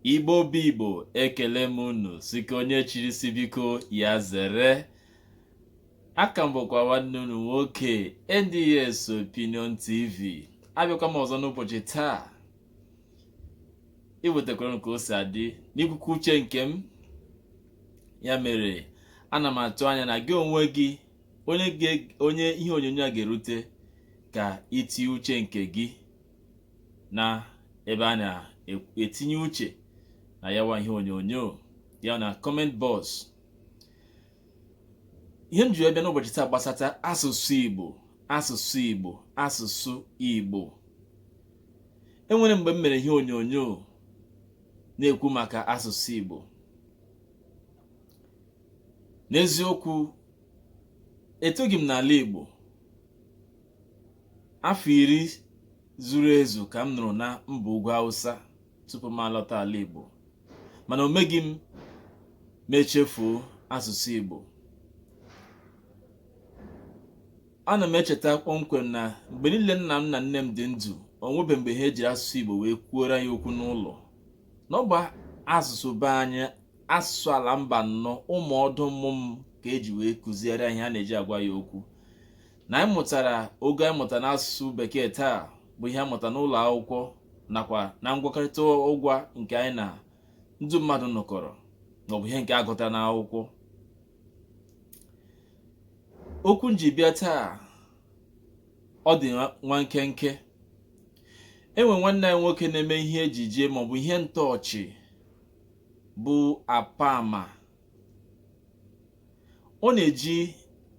Igbo bụ Igbo ekele m unu sị ka onye chiri si biko ya zere aka m bụkwa nwanne unu nwoke NDS Opinion TV abịakwa m ọzọ n'ụbọchị taa iwetakwara m ka o si adị n'ikwukwa uche nke m ya mere ana m atụ anya na gị onwe gị onye ihe onyonyo a ga-erute ka itinye uche nke gị na ebe a na-etinye uche na yawa ihe onyonyo ya na comment box ihe m ji wee bịa n'ụbọchị taa gbasata asụsụ Igbo asụsụ Igbo asụsụ Igbo enwere mgbe m mere ihe onyonyo na-ekwu maka asụsụ Igbo n'eziokwu etoghị m n'ala Igbo Afọ iri zuru ezu ka m nọrọ na mba ugwu Hausa tupu m alọta ala Igbo, mana o meghị m m echefuo asụsụ Igbo. Ana m echeta kpọmkwem na mgbe niile nna m na nne m dị ndụ, o nwebe mgbe ha ejiri asụsụ Igbo wee kwuoro anyị okwu n'ụlọ. Na ọ bụ asụsụ be anyị, asụsụ ala Mbanọ, ụmụ ọdụ mmụ m ka eji wee kụziere anyị ha na-eji agwa anyị okwu. na anyị mụtara ogo anyị mụta n'asụsụ bekee taa bụ ihe anyị mụta n'ụlọ akwụkwọ nakwa na ngwakọrịta ụgwa nke anyị na ndị mmadụ nọkọrọ maọbụ ihe nke a gụta n'akwụkwọ okwu m ji bịa taa ọ dị nwa nkenke e nwe nwanne anyị nwoke na-eme ihe ejije maọbụ ihe ntọọchị bụ Apama ọ na-eji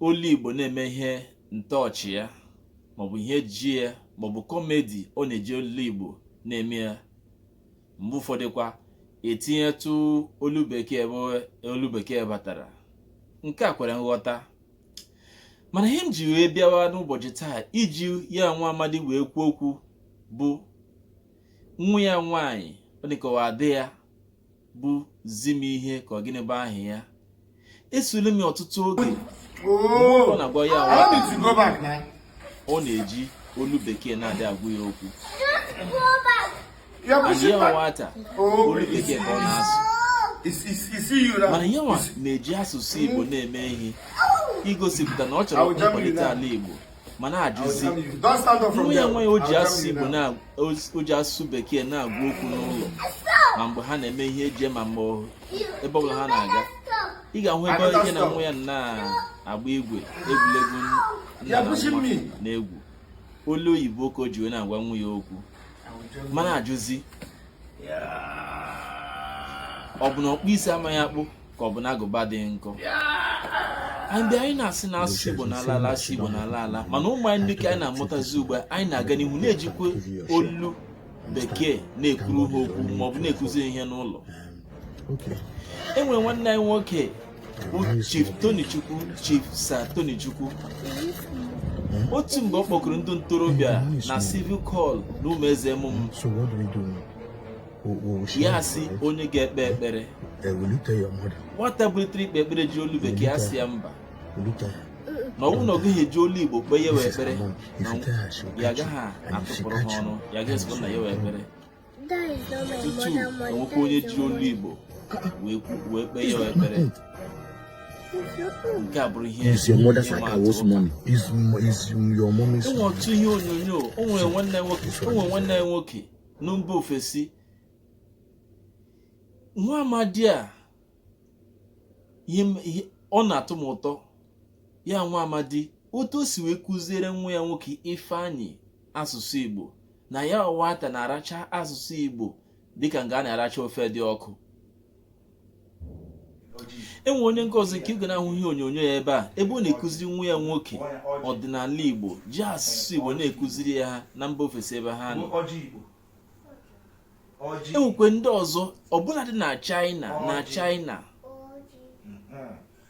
olu Igbo na-eme ihe ntọọchị ya maọbụ ihe ejije ya maọbụ kọmedi ọ na-eji olu Igbo na-eme ya mgbe ụfọdụkwa etinyetụ olu bekee ebe olu bekee batara nke a kwere nghọta mana ihe m ji wee bịawa n'ụbọchị taa iji ya nwa amadi wee kwuo okwu bụ nwa ya nwaanyị ọ dịka ọ ada ya bụ Zimihe ka ọ gịnị bụ aha ya esule m ọtụtụ oge ọ na-agwa ya ọ na-eji olu bekee na-adị agwa ya okwu ya nwata olu bekee ka ọ na-asụ mana ya nwa na-eji asụsụ Igbo na-eme ihe igosipụta na ọ chọrọ ịkwalite ala Igbo m ana-ajụzi nwa ya nwaanyị o ji asụsụ bekee na-agwa okwu n'ụlọ ma mgbe ha na-eme ihe ejije ma mgbe ebe ọbụla ha na-aga ị ga-ahụ ebe ya na nwa ya na-agba igwe egwuregwu nna na nwa na-egwu olu oyibo ka o ji wee na-agwa nwa ya okwu m ana-ajụzi ọ bụ na ọkpụ isi amaghị akpụ ka ọ bụ na agụba adịghị nkọ ebe anyị na-asị na asụsụ Igbo na-ala ala asụsụ Igbo na-ala ala mana ụmụ anyị ndị nke anyị na-amụtazi ugbu a anyị na-aga n'ihu na-ejikwa olu bekee na-ekwuru ha okwu maọbụ na-ekuzi ihe n'ụlọ e nwere nwanne anyị nwoke bụ Chief Sir Tony Chukwu otu mgbe ọ kpọkọrọ ndị ntorobịa na civic hall na Ụmụeze emume ya asị onye ga-ekpe ekpere nwata bilitere ikpe ekpere ji olu bekee asị ya mba na ọ wụ na ọ gaghị eji olu igbo kpee ya wụ ekpere ya agaghị atụpụrụ ha ọnụ ya agaghị esokwa na ya wụ ekpere tutu enwekwa onye ji olu Igbo wee kpee ya ekpere nke a bụrụ ihe enwee otu ihe onyonyo o nwere nwanne nwoke na mba ofesi nwa amadi a ọ na-atụ m ụtọ ya nwa amadi otu o si wee kụziere nwa ya nwoke ifeanyị asụsụ Igbo na ya nwata na-aracha asụsụ Igbo dịka nga a na-aracha ofe dị ọkụ enwee onye nke ọzọ nke ị ga na-ahụ ihe onyonyo ya ebe a ebe ọ na-ekụziri nwa ya nwoke ọdịnala Igbo ji asụsụ Igbo na-ekụziri ya ha na mba ofesi ebe ha nọ enwekwe ndị ọzọ ọbụladị na China na China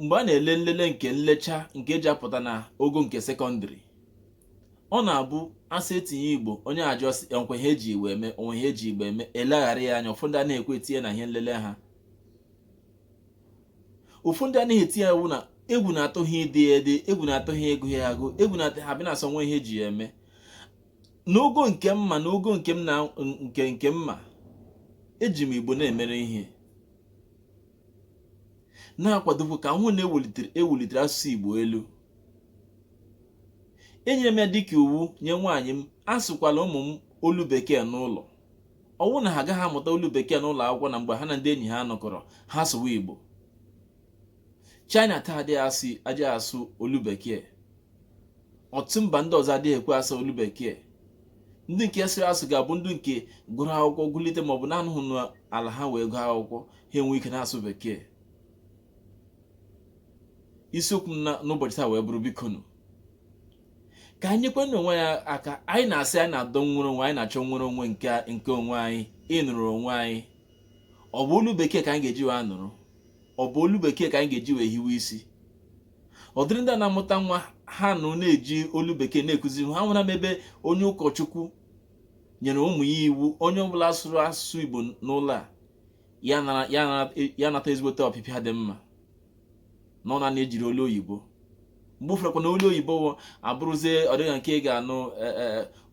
mgbe a na-ele nlele nke nlecha nke eji apụta na ogo nke sekọndịrị ọ na-abụ asị etinye igbo onye ajụọ sị o nwekwa ihe eji igbo eme o nwe ihe eji igbo eme eleghara ya anya ụfọdụ anaghị ekwe etinye na ihe nlele ha ụfọdụ anaghị etinye ọwụ na egwu na-atụ ha ide ya ede egwu na-atụ ha ịgụ ya agụ egwu na-atụ ha bịa na-asị o nwe ihe eji ya eme n'ogo nke mụwa na ogo nke m na nke nke mụwa eji m igbo na-emere ihe na-akwadokwa ka m hụ na ewulitere ewulitere asụsụ Igbo elu enyere m ya dịka iwu nye nwaanyị m asụkwala ụmụ m olu bekee n'ụlọ ọwụ na ha agaghị amụta olu bekee n'ụlọ akwụkwọ na mgbe ha na ndị enyi ha nọkọrọ ha sụwa Igbo China taa adịghị asụ adịghị asụ olu bekee ọtụtụ mba ndị ọzọ adịghị ekwe asụ olu bekee ndị nke sịrị asụ ga-abụ ndị nke gụrụ akwụkwọ gụlite maọbụ na-anọghị n'ala ha wee gụọ akwụkwọ ha enwee ike na-asụ bekee isiokwu m n'ụbọchị taa wee bụrụ bikonu ka anyị nyekwanụ onwe anyị aka anyị na-asị anyị na-adọ nnwere onwe anyị na-achọ nnwere onwe nke onwe anyị ịnọrọ onwe anyị ọ bụ olu bekee ka anyị ga-eji wee nọrọ ọ bụ olu bekee ka anyị ga-eji wee hiwe isi ọdịrị ndị a na-amụta nwa ha nụ na-eji olu bekee na-ekụziri ha nwere mgbe onye ụkọchukwu nyere ụmụ ya iwu onye ọbụla sụrụ asụsụ Igbo n'ụlọ a ya nata ezigbote ọpịpịa dị mma na ọ na-anụ e jiri olu oyibo mgbe ụfọdụ na olu oyibo abụrụzie ọdịga nke ị ga-anụ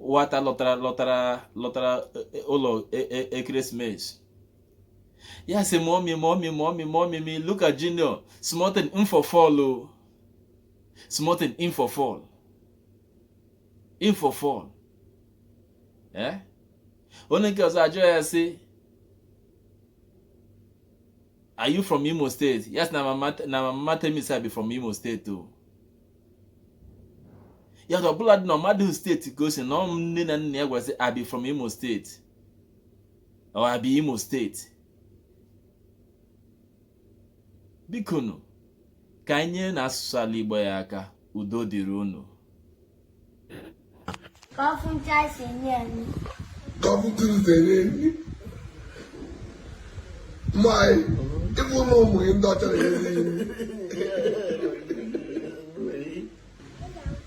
nwata lọtara ụlọ ekeresimesi ya sị mommy look at junior small thing him for fall o small thing him for fall him for fall eh onye nke ọzọ ajụọ ya sị are you from imo state yes na my mama tell me say i be from imo state o ya ọbụla dị na ọ madụ steeti ka o si na ọ nne na nna ya gwasị i be from imo state or I be Imo state bikonu ka anyị nyerenụ asụsụ ala Igbo a aka udo dịrị unu Kọfụncha si nye anyị. Kọfụtụrụ sere enyi. Mmanyị, ịbụ na ụmụ gị ndị ọcha na-enye nri.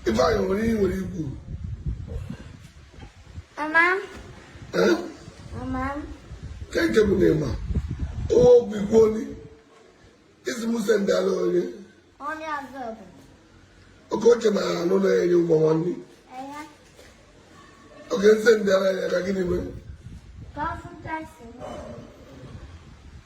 Ifeanyị nwere ihe nwere ikwu. Mama. Eh? Mama. Ka nke bụ na ịma. Owo bụ ikwu onye. Isi Musa ndị ala onye. Onye azụ bụ. Oke oche na anụ na-enye ụgbọ nwanne. Oke nsị ndị ala ya ka gịnị mee? Ka ọ fụ taksi.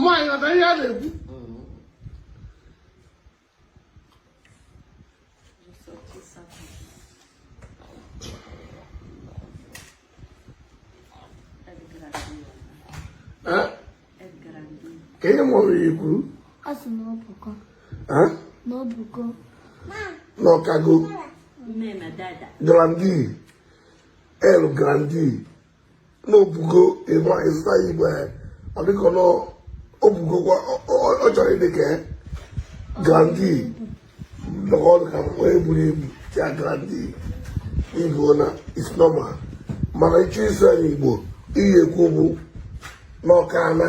nwaanyị ọta ihe a na-ekwu ka ihe mụrụ ya kwuru na ọ kago grande el grande na o bugo ịma ịzụta ya igwe ọ dịka na o bugokwa ọ chọrọ ịdị ka grande nọkọ ọdụ ka mkpa eburu ebu ya grande igbo na is normal mana ịchọ ịsụ anyị igbo ị ya-ekwu bụ n'ọka ana